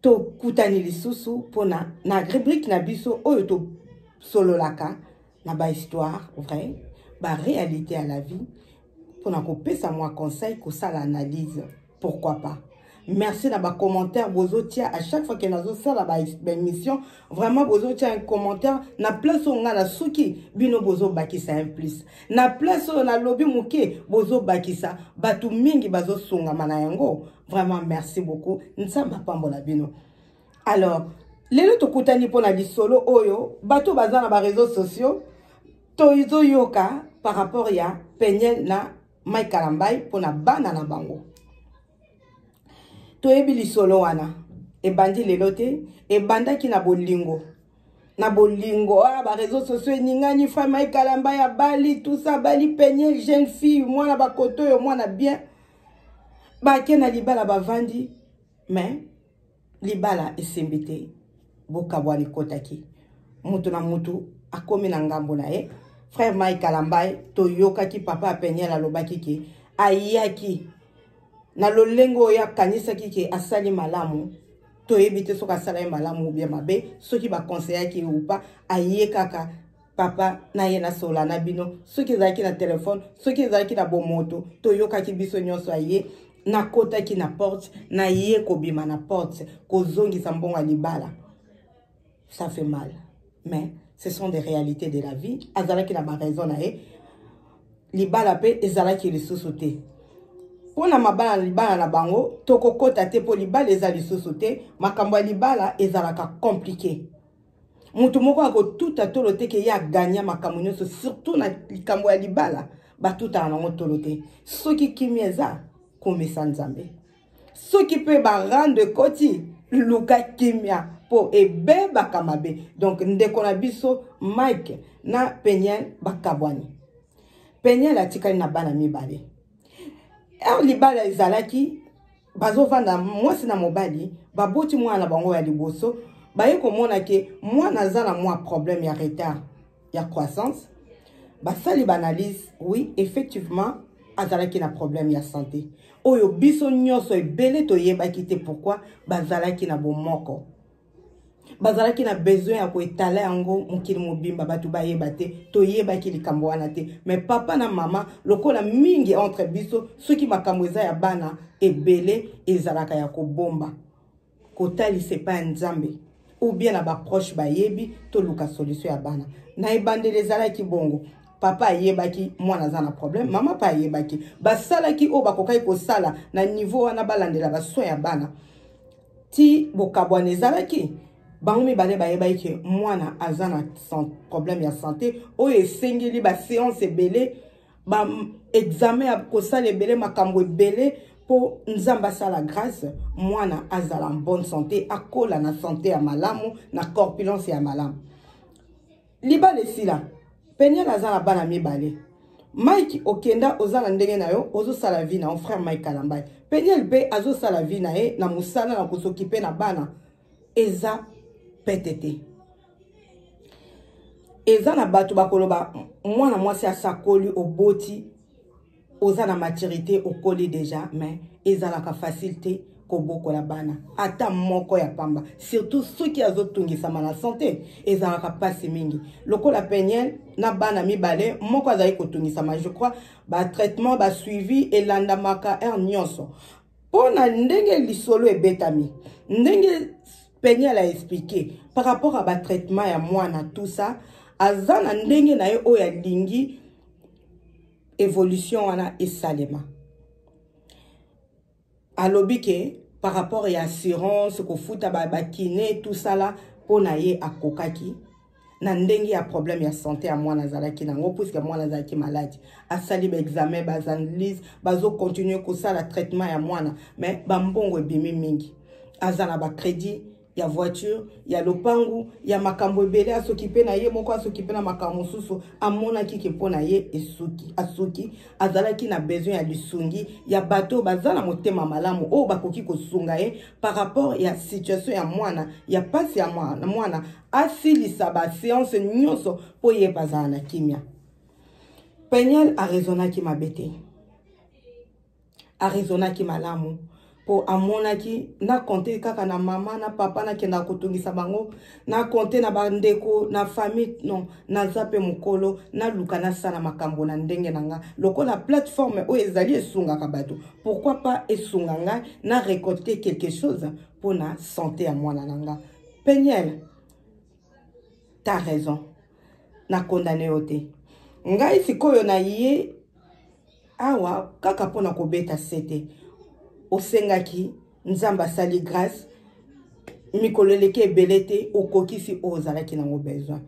tokutani lisusu mpo na na rubrike na biso oyo tosololaka na bahistoire vrai baréalité ya la vie mpo na kopesa mwa conseil kosala analyse pourquoi pas merci na bacommentaire bozotia à chaque fois ke nazosala baémission vraiment bozotia un commentaire na place oyo ngai nasuki bino bozobakisa un plus na place oyo nalobi moke bozobakisa bato mingi bazosungama na yango vraiment merci beaucoup nzambe apambola bino alors lelo tokutani mpo na lisolo oyo bato baza na bareseau sociaux tozoyoka par rapport ya peniel na mike kalambai mpo na bana na bango toyebi lisolo wana ebandi lelo te ebandaki na bolingo na bolingo ah, bareseau sociaux eningani fa mike kalambai abali tusa abali peniel jeune fille mwana bakoto oyo mwana bien bake na libala bavandi me libala esembi te bokabwani ekotaki moto na moto akomi na ngambo na ye frère mai kalambai toyokaki papa apeniel alobaki ke ayaki na lolenge oyo akanisaki ke asali malamu toyebi te soki asala ye malamu obia mabe soki bakonseyaki ye upa aye kaka papa na ye nasola na bino soki ezalaki na telefone soki ezalaki na bomoto toyokaki biso nyonso aye nakotaki na porte naye kobima na porte kozongisa mbongo ya libala ça fait mal mais ce sont des réalités de la vie azalaki na baraison na ye libala mpe ezalaki lisusu te mpo na mabala na libala na bango tokokɔta te mpo libala eza lisusu te makambo ya libala ezalaka komplike moto moko akotuta tolo te ke ye aganya makambo nyonso surtout na likambo ya libala batutaka nango tolo te soki kimia eza komisa nzambe soki mpe barando ekoti luka kimia mpo ebebaka mabe donc ndeko na biso mike na peniel bakabwani peniel atikali na bana mibale ere libala ezalaki bazovanda mwasi na mobali baboti mwana na bango ya liboso baye komona ke mwana aza na mwa problème ya retard ya croissance basali baanalyse oui effectivement azalaki na problème ya santé oyo biso nyonso ebele toyebaki te pourkui bazalaki na bomoko bazalaki na besoin ya koetala yango mokili mobimba bato bayeba te toyebaki likambo wana te me papa na mama lokola mingi entre biso soki makambo eza ya bana ebele ezalaka ya kobomba kotalisa epai ya nzambe ou bien na baproche bayebi toluka solution ya bana na ebandeli ezalaki bongo papa ayebaki mwana aza na problème mama mpe ayebaki basalaki oyo bakokaki kosala na niveau wana balandela basoin ya bana ti bokabwana ezalaki bango mibale bayebaki ke mwana aza na problème ya santé oyo esengeli baseance ebele baexamen ya kosala ebele makambo ebele mpo nzambe asala grâce mwana azala en bonne santé akola na santé ya malamu na corpulence ya malamu libala esila peniel aza na bana mibale mike okenda oza na ndenge na yo ozosala vi na yo frère mike kalambai peniel mpe azosala vi na ye na mosala na kosokipe na bana eza pete te eza na bato bakoloba mwana mwasi asakoli oboti oza na maturité okoli déjà mais ezalaka facile te kobokola bana ata moko ya pamba surtout soki azotungisama na sante ezalaka mpasi mingi lokola peniel na bana mibale moko azali kotungisama je crois batraitement basuivi elandamaka heure nyonso mpo na ndenge lisolo ebetami ndenge peniel a explike par rapport ya batraitement ya mwana tout ça aza na ndenge na ye oyo alingi evolution wana esalema alobi ke par rapport ya assurance kofuta bakine ba tout sala mpo na ye akokaki na ndenge ya problème ya santé ya mwana azalaki na yango puiske mwana azalaki maladi asali baexamen baanalyse bazocontinue kosala traitement ya mwana mais bambongo ebimi mingi aza na bacrédit ya voiture ya lopangu ya makambo ebele asokipe na ye moko asokipe na makambo mosusu amonaki ke mpo na ye esuki asuki azalaki na besoin ya lisungi ya bato oyo baza na motema malamu oyo bakoki kosunga ye par rapport ya situation ya mwana ya mpasi ya mwana, mwana asilisa baseance nyonso mpo ye bazala na kimya peniel arezonaki mabe te aresonaki malamu mpo amonaki na konte kaka na mama na papa nakendaka kotungisa bango na konte na bandeko na famille non naza mpe mokolo naluka nasala makambo na ndenge na ngai lokola plateforme oyo ezali esungaka bato pourquoi pas esunga ngai na récolter quelque chose mpo na sante ya mwana na ngai peniel ta raison na condamne yo te ngai sikoyo na ye awa kaka mpo na kobeta sete osengaki nzambe asali grâce mikolo eleki ebele te okokisi oyo ozalaki nango besoin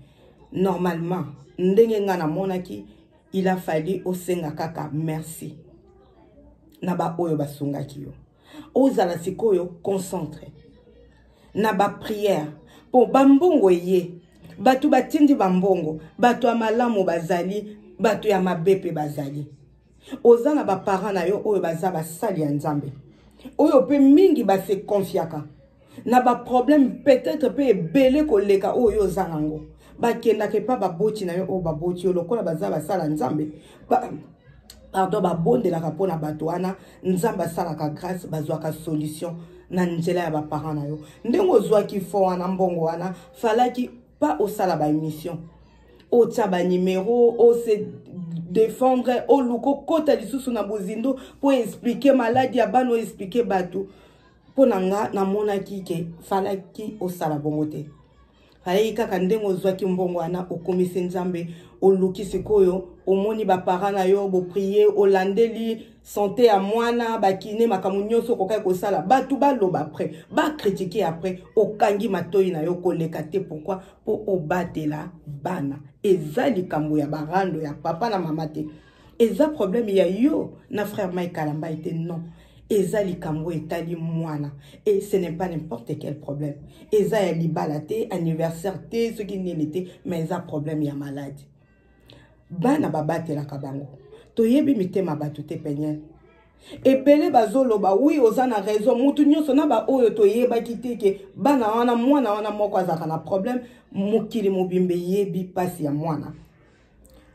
normalement ndenge ngai namonaki il a fallu osenga kaka merci na baoyo basungaki yo ozala sikoyo concentre na bapriere mpo bambongo eye bato batindi bambongo bato ya malamu bazali bato ya mabe mpe bazali oza na baparent na yo oyo baza basali ya nzambe oyo mpe mingi basekonfiaka na baproblème peut-être mpe ebele koleka oyo yo oza nango bakendaka epa baboti na yo oyo baboti yo lokola baza basala nzambe ba, pardon babondelaka mpo na bato wana nzambe asalaka grâce bazwaka solution na nzela ya baparent na yo ndenge ozwaki fo wana mbongo wana falaki pa osala baémission otya banimero ose défendre oluka okota lisusu na bozindo mpo explike maladi ya bana oexplike bato mpo na nga namonaki ke falaki osala bongo te fayaki kaka ndenge ozwaki mbongo wana okomisi nzambe oluki sikoyo omoni bapara na yo boprie olandeli sante ya mwana bakine makambo nyonso okokaki kosala bato baloba apres bakritike apres okangi matoi na yo koleka te pourkui mpo obatela bana eza likambo ya barando ya papa na mama te eza problème ya yo na frère mike kalamba ete non eza likambo etali mwana et ce n'est pas n'importe quel problème eza ya libala te anniversaire te soki nini te mais eza problème ya maladi bana babatelaka bango toyebi mitema bato te peniel ebele bazoloba wi oza na raison motu nyonso na baoyo toyebaki te ke bana wana mwana wana moko azalaka na problème mokili mobimba eyebi mpasi ya mwana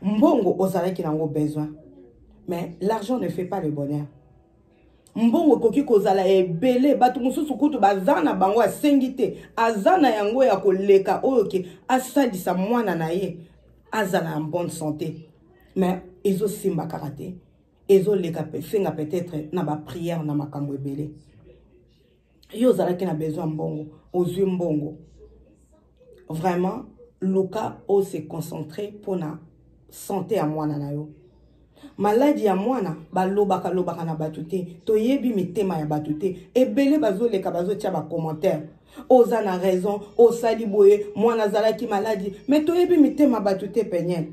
mbongo ozalaki nango besoin mais l'argent ne fait pas le bonheur mbongo ekoki kozala ebele bato mosusu kutu baza na bango asengi te aza na yango ya koleka oyo ke asalisa mwana na ye azala en bonne santé mais ezosimba kaka te ezoleka senga peut-être na baprière na makambo ebele yo ozalaki na besoin ya mbongo ozwi mbongo vraiment luka ose concentre mpo na sante ya mwana na yo maladi ya mwana balobaka lobaka na bato te toyebi mitema ya bato te ebele bazoleka bazotya bacommentaire oza na raison osali boye mwana azalaki maladi me toyebi mitema bato te peniel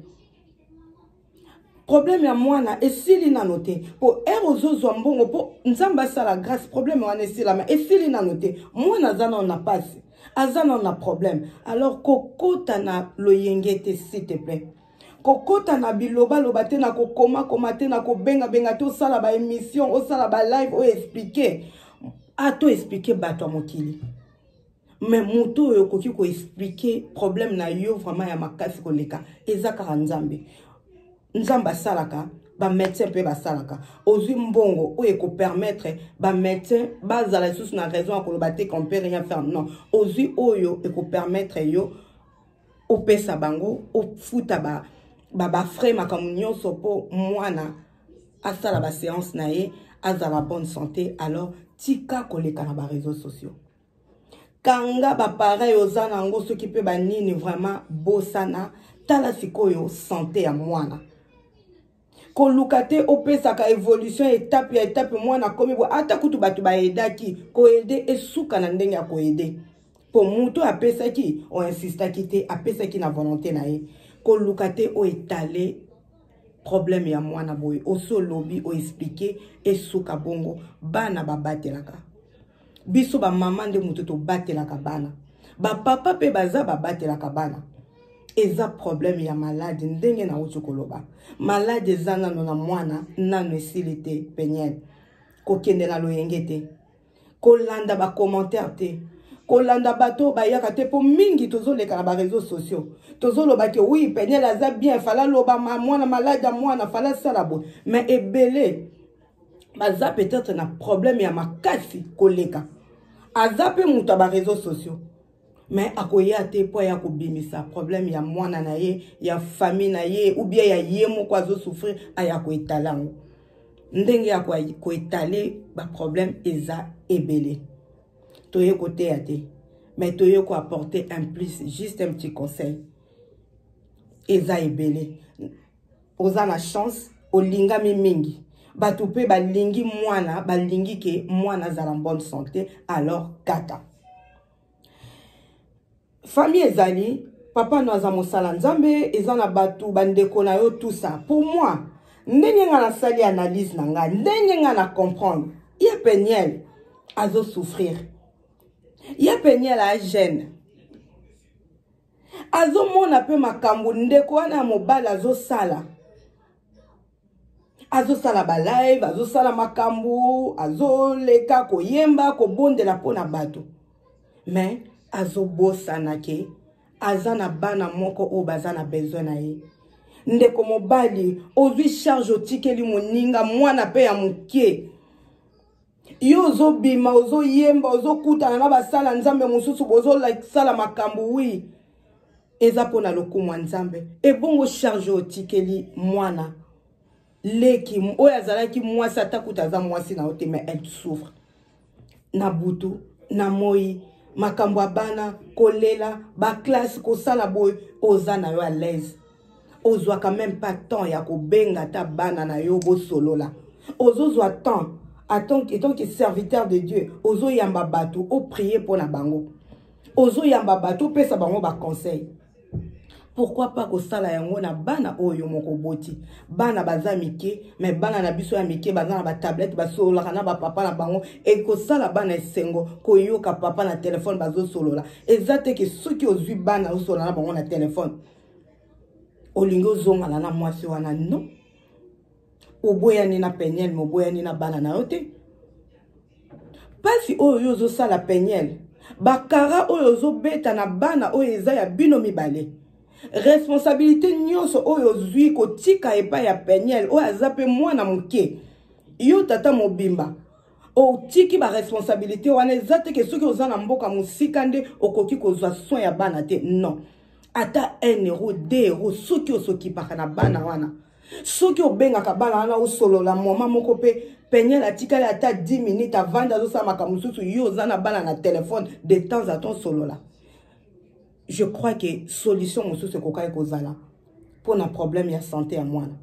problème ya mwana esili nano te mpo ere ozozwa mbongo mpo nzambe asala grâce problème wana esilama esili nano te mwana aza nano na mpasi aza nano na problème alors kokota na loyenge te s'il te plaît kokota na bilobaloba te na kokomakoma te na kobengabenga te osala baémission osala balive oyo explike ato explike bato ya mokili mais moto oyo okoki koexplike problème na yo vraiment ya makasi koleka eza kaka nzambe nzambe asalaka bamédecin mpe basalaka ozwi mbongo oyo ekopermettre bamédecin bazala lisusu na raison ya koloba te qu'on peut rien faire non ozwi oyo ekopermettre yo opesa bango ofuta ba, ba, ba frais makambo nyonso mpo mwana asala baséance na ye azala bonne santé alors tika koleka na bareseau sociaux kanga bapareil oza na yango soki mpe banini vraiment bosana tala sikoyo sante ya mwana koluka te opesaka evolution etape ya etape mwana akomi bo ata kutu bato baedaki koede esuka na ndenge ya koede mpo moto apesaki oinsistaki te apesaki na volonté na ye koluka te oetale problème ya mwana boye osi olobi oexplike esuka bongo bana babatelaka biso bamama nde moto tobatelaka bana bapapa mpe baza babatelaka bana eza problème ya malade ndenge nauti koloba malade eza nano na mwana nano esili te peniele kokende na loyenge te kolanda bacommentaire te kolanda bato oyo bayaka te mpo mingi tozoleka na bareseau sociaux tozoloba ke wi peniele aza bien fala loba mwana malade ya mwana fala sala boye mais ebele baza peut-être na problème ya makasi koleka aza mpe moto ya bareseau sociaux mais akoya te mpo aya kobimisa problème ya mwana na ye ya famille na ye ou bien ya ye moko azosouffrir aya koetale yango ndenge ya koetale baproblème eza ebele toye koteya te mais toye koapporter un plus juste un petit conseil eza ebele oza na chance olingami mingi bato mpe balingi mwana balingi ke mwana azala bonne santé alors kata famille ezali papa no aza mosala nzambe eza na bato bandeko na yo tout ça pour moi ndenge nga nasali analyse na nga ndenge nga na comprendre ye peniel azosouffrir ye peniel agene azomona mpe makambo ndeko wana ya mobali azosala azosala balive azosala makambo azoleka koyemba kobondela mpo na bato me azobosana ke aza na bana moko oyo baza na besoin na ye ndeko mobali ozwi charge otikeli moninga mwana mpe ya moke yo ozobima ozoyemba ozokutana na basala nzambe mosusu bozosala makambo wi eza mpo na lokumu ya nzambe ebongo charge otikeli mwana leki oyo azalaki mwasi ata kuta aza mwasi na yo te ma elle souffre na butu na moi makambo ya bana kolela baklasse kosala boye oza na yo alaise ozwaka meme pas temps ya kobenga ata bana na yo bosolola ozozwa temps etant que serviteur de dieu ozoyamba bato oprie mpo na bango ozoyamba bato opesa bango baconseil pourquoi pas kosala yango na bana oyo moko oboti bana baza mike me bana na biso ya mike baza na batablete basololaka na bapapa na bango ekosala bana esengo koyoka papa na telefone bazosolola eza te ke soki ozwi bana osolola na bango na telefone olingi ozongana na mwasi wana no oboyani na peniel me oboyani na bana na yo te mpasi oyo yo ozosala peniel bakara oyo ozobeta na bana oyo eza ya bino mibale responsabilité nyonso oyo ozwi kotika epai ya peniel oyo aza mpe mwana moke yo tata mobimba otiki baresponsabilité wana eza te ke soki oza na mboka mosika nde okoki kozwa soin ya bana te non ata 1 euro 2 euro soki osokipaka na bana wana soki obengaka bana wana osolola moma moko mpe peniel atikali ata 10 minute avandi azosala makambo mosusu yo oza na bana na telefone de temps à temps solola je crois que solution mosusu ekokaki kozala mpo na problème ya sante ya mwana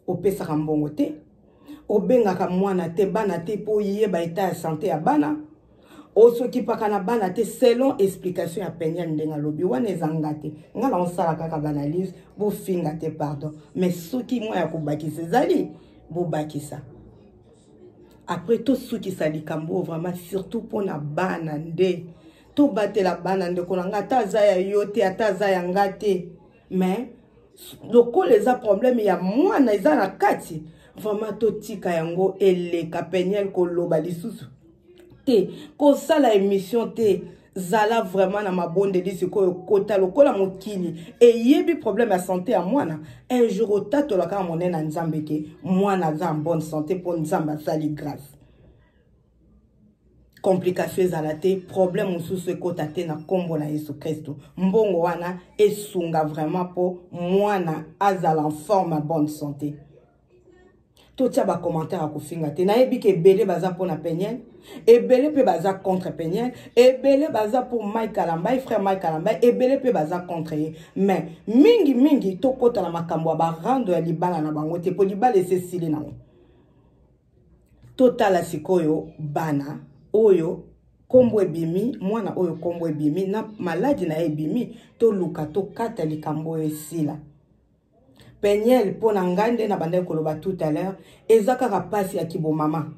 opesaka mbongo te obengaka mwana te bana te mpo oyeba eta ya sante ya bana osokipaka na bana te selon explication ya peniel ndenge alobi wana eza nga te nga na osala kaka baanalyse bofinga te pardon mais soki mwa ya kobakisa ezali bobakisa après tosukisa likambo oyo vraiment surtout mpo na bana nde tobatela bana ndeko na nga ata aza ya yo te ata aza ya nga te mais lokola eza problème ya mwana eza na kati vraiment totika yango eleka peniel koloba lisusu te kosala émission te zala vraiment na mabondeli sikoyo kota lokola mokili eyebi problème ya santé ya mwana un jour otatolaka ya monene ya nzambe ke mwana aza en bonne santé mpo nzambe asali grâce complication ezala te problème mosusu ekota te na nkombo na yesu kristu mbongo wana esunga vraiment mpo mwana azala en forme ya bonne santé totya bacommentaire ya kofinga te nayebi ke ebele baza mpo na peniel ebele mpe baza contre peniel ebele baza mpo mike kalambai frère mike kalambai ebele mpe baza contre ye mais mingi mingi tokota na makambo ya barando ya libala na bango te mpo libala esesili nango totala sikoyo bana oyo nkombo ebimi mwana oyo nkombo ebimi na maladi na ye ebimi toluka tokata likambo oyo esila peniel mpo na ngai nde na bandaki koloba tout à l'heure eza kaka mpasi ya kibomama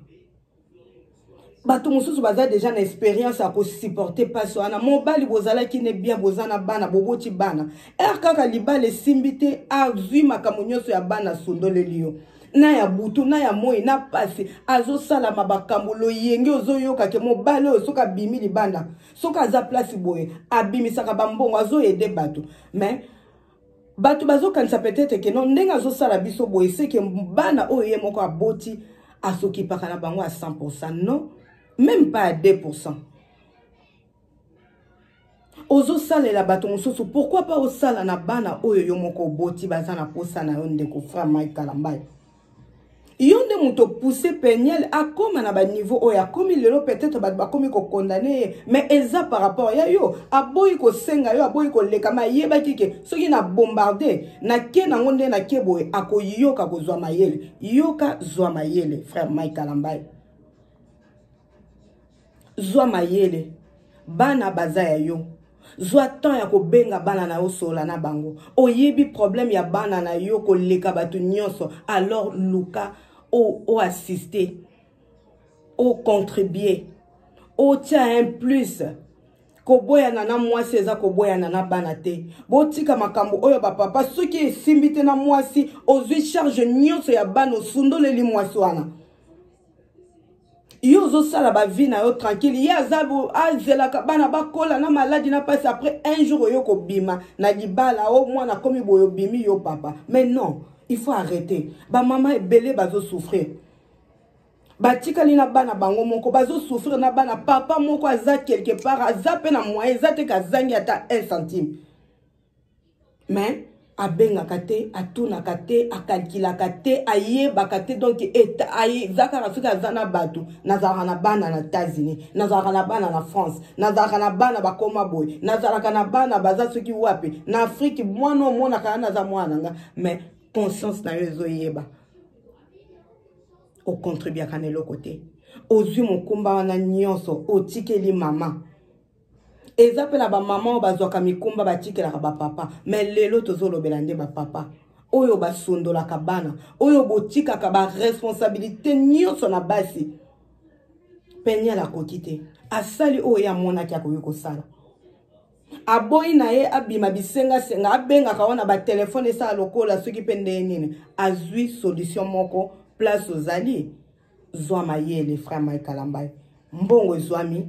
bato mosusu baza deja na experience ya kosupporte mpasi wana mobali bozalaki ne bien boza na bana boboti bana r kaka libala esimbi te azwi makambo nyonso ya bana asundoleli yo na ya butu na ya moi na mpasi azosalama bakambo loyenge ozoyoka ke mobali oyo soki abimi libanda soki aza place boye abimisaka bambongo azoyede bato mais bato bazokanisa peut-être ke non ndenge azosala biso boye seke bana oyo ye moko aboti asokipaka na bango ya 100 non même pas ya 2 ozosalela bato mosusu pourkui pa osala na bana oyo yo moko oboti baza na mposa na yo ndeko frère mike kalambayo yo nde moto pousse peniel akóma na baniveau oyo akómi lelo peut-être bato bakómi kokondane ye mais eza par rapport ya yo aboyi kosenga yo aboyi kolekama ayebaki ke soki na bombarde nake nango nde nake boye akoyoka kozwa mayele yoka zwa mayele frère mike kalambai zwa mayele bana baza ya yo zwa temps ya kobenga bana na yo solola na bango oyebi problème ya bana na yo koleka bato nyonso alors luka oassiste ocontribue otya un plus koboyana na mwasi eza koboyana na bana te botika makambo oyo bapapa soki esimbi te na mwasi ozwi charge nyonso ya bana osundoleli mwasi wana yo ozosala bavi na yo tranquille ye aza azelaka bana bakola na maladi na mpasi après un jour oyo kobima na libala o oh, mwana akomi boye obimi yo papa mais non il faut arrêter bamama ebele bazosouffrir batikali na bana bango moko bazosouffrir na bana papa moko aza quelque part aza mpe na moyen eza te kazangi ata un centime mais abengaka te atunaka te akalkilaka te ayebaka te donc eza kaka soki aza na bato nazalaka na bana na états-unis nazalaka na bana na france nazalaka na bana bakoma boye nazalaka na bana baza soki wapi na afrike mwana omonaka ya naza mwana na nga mais conscience na yo ezoyeba ocontribuaka na eloko te ozwi mokumba wana nyonso otikeli mama eza mpe na bamama oyo bazwaka mikumba batikelaka bapapa me lelo tozolobela nde bapapa oyo basundolaka bana oyo botikaka baresponsabilité nyonso na basi peniel akoki te asali oyo ye amonaki akoki kosala aboyi na ye abima bisengasenga abengaka wana batelefone esala lokola soki mpe ndeye nini azwi solution moko place ozali zwa mayele frère mike kalambai mbongo ezwami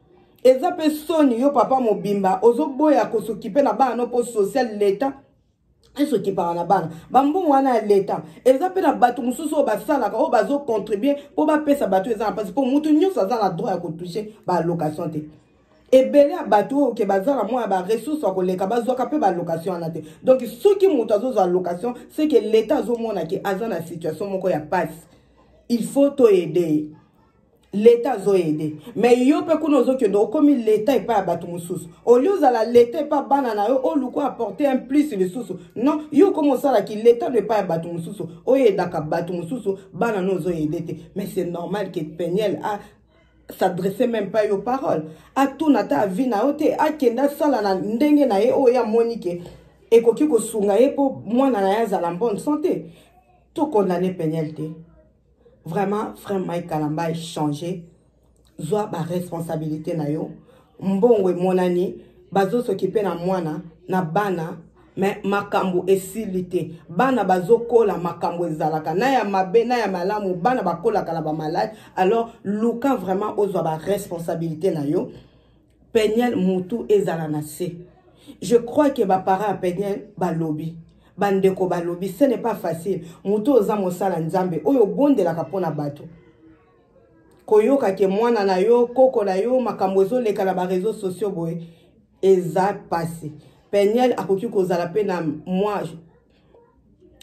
eza pe soni yo papa mobimba ozoboya kosokipe na bana no po social leta esokipaka na bana bambongo wana ya leta eza mpe na bato mosusu oyo basalaka oyo bazocontribue mpo bapesa bato eza na mpasi mpo motu nyonso aza na droit ya kotouche baalocation te ebele ya bato oyo ke baza na mwa ya baressource ya koleka bazwaka mpe balocation wana te donk soki moto azozwa location seke leta azomona ke aza na situation moko ya mpasi il faut toyede ye leta azo ede mais yo mpe kuna ozokende okomi leta epai ya bato mosusu olie ozala leta epai bana na yo oluku apporte un plus lisusu non yo okomi osala ki leta no epai ya bato mosusu oyedaka bato mosusu bana no ozoyede te mais c'est normal ke peniel a s'adresse même pas yo parole atuna ata avi na yo te akende asala na ndenge na ye oyo amoni ke ekoki kosunga ye mpo mwana na ye azala bonne sante tokondane peniel te Vraiment, frère Mike Kalambay, changer. Zwa ba responsabilité na yo. Mbongo emonani, bazo s'occuper na mwana, na bana, mais makambo esili te bana bazokola makambo ezalaka na ya mabe na ya malamu bana bakolaka na bamalade alors luka vraiment ozwa baresponsabilité na yo peniel mutu ezala na se je crois que baparent ya peniel balobi bandeko balobi ce n'est pas facile mutu oza mosala nzambe oyo obondelaka mpo na bato koyoka ke mwana na yo koko na yo makambo ezoleka na bareseau sociaux boye eza mpasi peniel akoki kozala mpe na mwa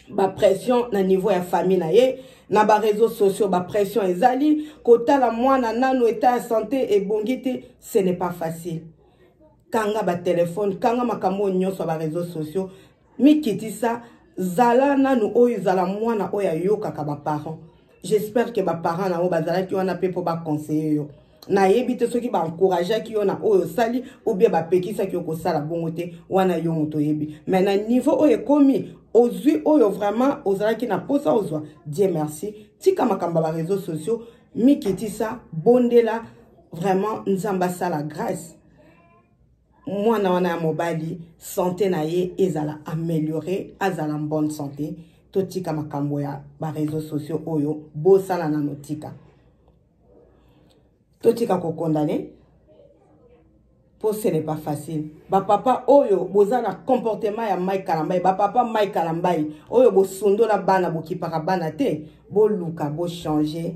bapression na niveau ya famille na ye na bareseau sociaux bapression ezali kotala mwana nano eta ya sante ebongi te ce n'est pas facile kanga batelefone kanga makambo oyo nyonso ya bareseau sociaux mikitisa zala nanu oyo zala mwana oyo ayokaka baparent j'espère que ba parents na yo bazalaki wana pe po ba conseiller yo nayebi te soki baencourageaki yo na oyo osali ou bien bapekisaki yo kosala bongo te wana yo moto oyebi me na niveau oyo ekomi ozwi oyo vraiment ozalaki na mposa ozwa die merci tika makambo ya bareseau sociaux mikitisa bondela vraiment nzambe asala grâce mwana wana ya mobali sante na ye ezala ameliore azala en bonne sante totika makambo ya bareseau sociaux oyo bosala nano tika totika kokondane mpo ce n'est pas facile bapapa oyo boza na comportement ya mike kalambai bapapa mike kalambai oyo bosundola bana bokipaka bana te boluka bochange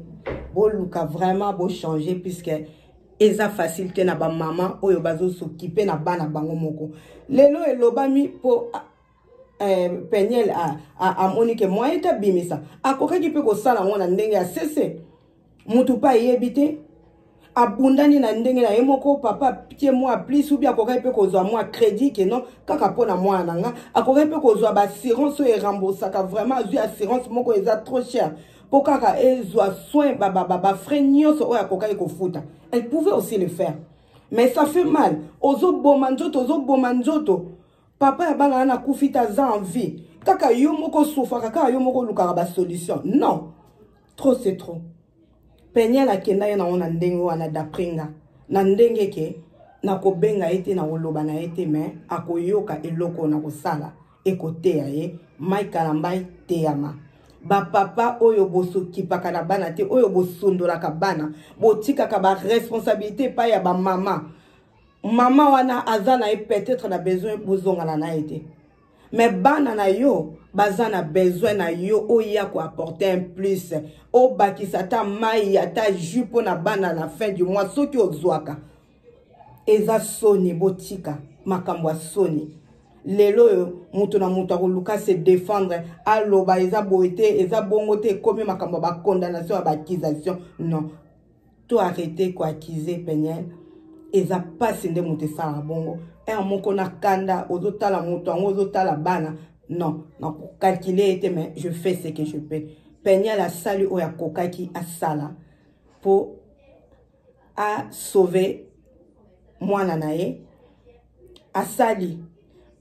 boluka vraiment bochange puisque eza facile te na bamama oyo bazosokipe na bana bango moko lelo elobami mpo ah, eh, peniel amoni ke moyen te abimisa akokaki mpe kosala yango na ndenge ya sese motu mpe ayebi te abundani na ndenge na ye moko papa tie mwa plus ubi akokaki mpe kozwa mwa crédit keno kaka mpo na mwana na nga akokaki mpe kozwa baassurance oyo eremboursaka vraiment azwi assurance moko eza trop cher mpo kaka ezwa soin bafrais nyonso oyo akokaki kofuta elle pouvait aussi le faire mais ça fait mal ozoboma nzoto ozoboma nzoto papa ya bana wana akufi te aza en vie kaka yo moko osufaka kaka yo moko olukaka basolution non trop c'est trop peniel akenda ye nango na ndenge wana d'après nga na ndenge ke nakobenga ye te nakoloba na ye te mais akoyoka eloko nakosala ekoteya ye mike kalambai teyama bapapa oyo bosokipaka na bana te oyo bosundolaka bana botikaka baresponsabilité epai ya bamama mama wana aza na ye peut-être na besoin bozongana na ye te mais bana na yo baza na besoin na yo oya koapporte un plus obakisa ata mai ata jus mpo na bana na fin du mois soki ozwaka eza soni botika makambo ya soni lelo oyo moto na moto akoluka se défendre aloba eza boye te eza bongo te ekomi makambo ya bacondamnation ya baaccusation non to arrete koaccuse peniel eza mpasi nde moto esalaka bongo heure moko na kanda ozotala moto yango ozotala bana non nakokalkile ye te mais je fais ce que je peux peniel asali oyo akokaki asala mpo a sauver mwana na ye asali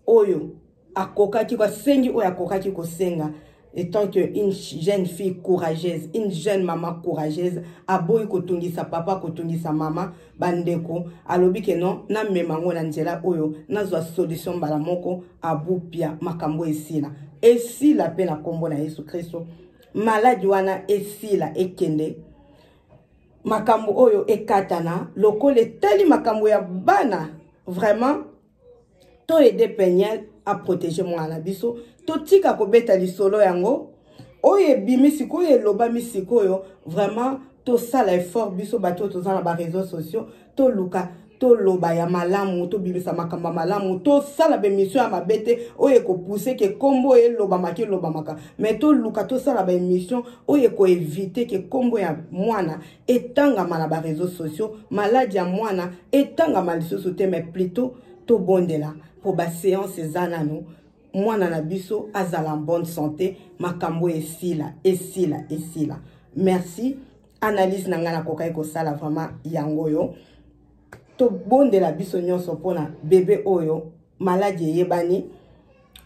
oyo akokaki asengi oyo akokaki kosenga étant que une jeune fille courageuse une jeune maman courageuse aboyi kotungisa papa kotungisa mama bandeko alobi ke non namema yango na nzela oyo nazwa solution mbala moko abupia makambo esila esila mpe na nkombo na yesu kristo maladi wana esila ekende makambo oyo ekatana lokola etali makambo ya bana vraiment to aide peniel aprotege mwana na biso totika kobeta lisolo yango oyo ebimi sikoyo elobami sikoyo vraiment tosala effort biso bato oyo toza na bareseau sociaux toluka toloba ya malamu tobimisa makambo ya malamu tosala baemission ya mabe te oyo ekopuse ke nkombo elobamaka elobamaka mai toluka tosala baemission oyo ekoevite ke nkombo ya mwana etangama na bareseau sociaux maladi ya mwana etangama lisusu te mai plutot tobondela mpo baseance eza nano mwana na biso azala en bonne santé makambo esila esila esila merci analyse na ngai nakokaki kosala vraiment yango oyo tobondela biso nyonso mpona bebe oyo maladi eyebani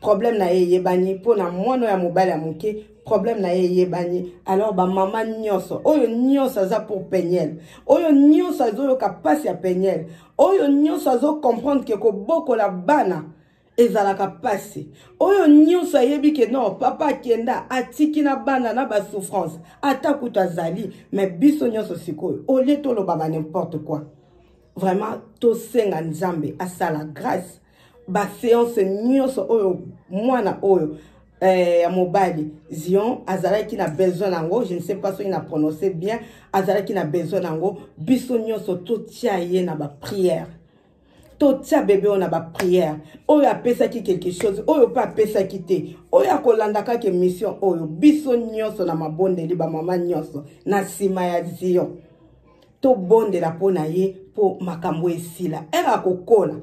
problème na ye eyebani mpona mwana ya mobali ya moke problème na ye eyebani alors bamama nyonso oyo nyonso aza pour peniel oyo nyonso azoyoka mpasi ya peniel oyo nyonso azocomprendre ke kobokola bana ezalaka mpasi oyo nyonso ayebi ke no papa akenda atiki na bana na basouffrance ata kutu azali me biso nyonso sikoyo olie tolobaka nimporte quoi vraiment tosenga nzambe asala grâce baseance nyonso oyo mwana oyo eh, ya mobali zion azalaki na besoin yango je ne sais pas soki na prononce bien azalaki na besoin yango biso nyonso totia ye na bapriere totia bebe oyo na bapriere oyo apesaki quelque chose oyo mpe apesaki te oyo akolanda kaka emission oyo biso nyonso na mabondeli bamama nyonso na nsima ya zion tobondela mpo na ye mpo makambo esila ere akokola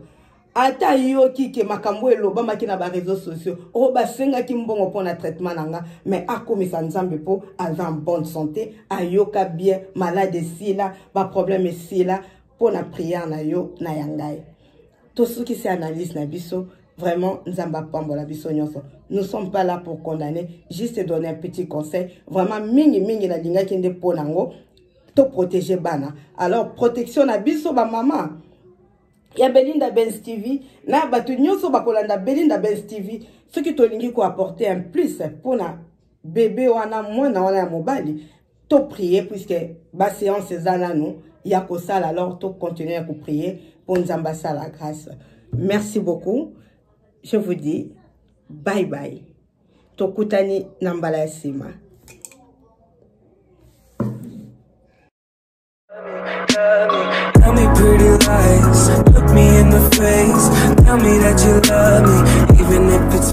ata ayoki ke makambo elobamaki na bareseau sociaux oyo oh, basengaki mbongo mpo na traitement na nga mais akumisa nzambe mpo aza en bonne santé ayoka bien malade esila baproblème esila mpo na priere na yo na ya ngai tosukisi analyse na biso Vraiment, Nzamba Pambola Bisonyoso. Nous sommes pas là pour condamner, juste donner un petit conseil. Vraiment, mingi mingi na linga kende ponango, to protéger bana. Alors, protection na biso ba maman. Ya Belinda Benz TV, na batu nyoso bakolanda Belinda Benz TV, soki tolingi ko apporter un plus pona bébé wana mwana wana ya mobali to prier puisque ba séance eza nanu ya kosala alors to continuer ya koprier mpo nzambe asala grâce merci beaucoup je vous dis bye bye tokutani na mbala ya nsima Tell me pretty lies, look me in the face. Tell me that you love me, even if it's.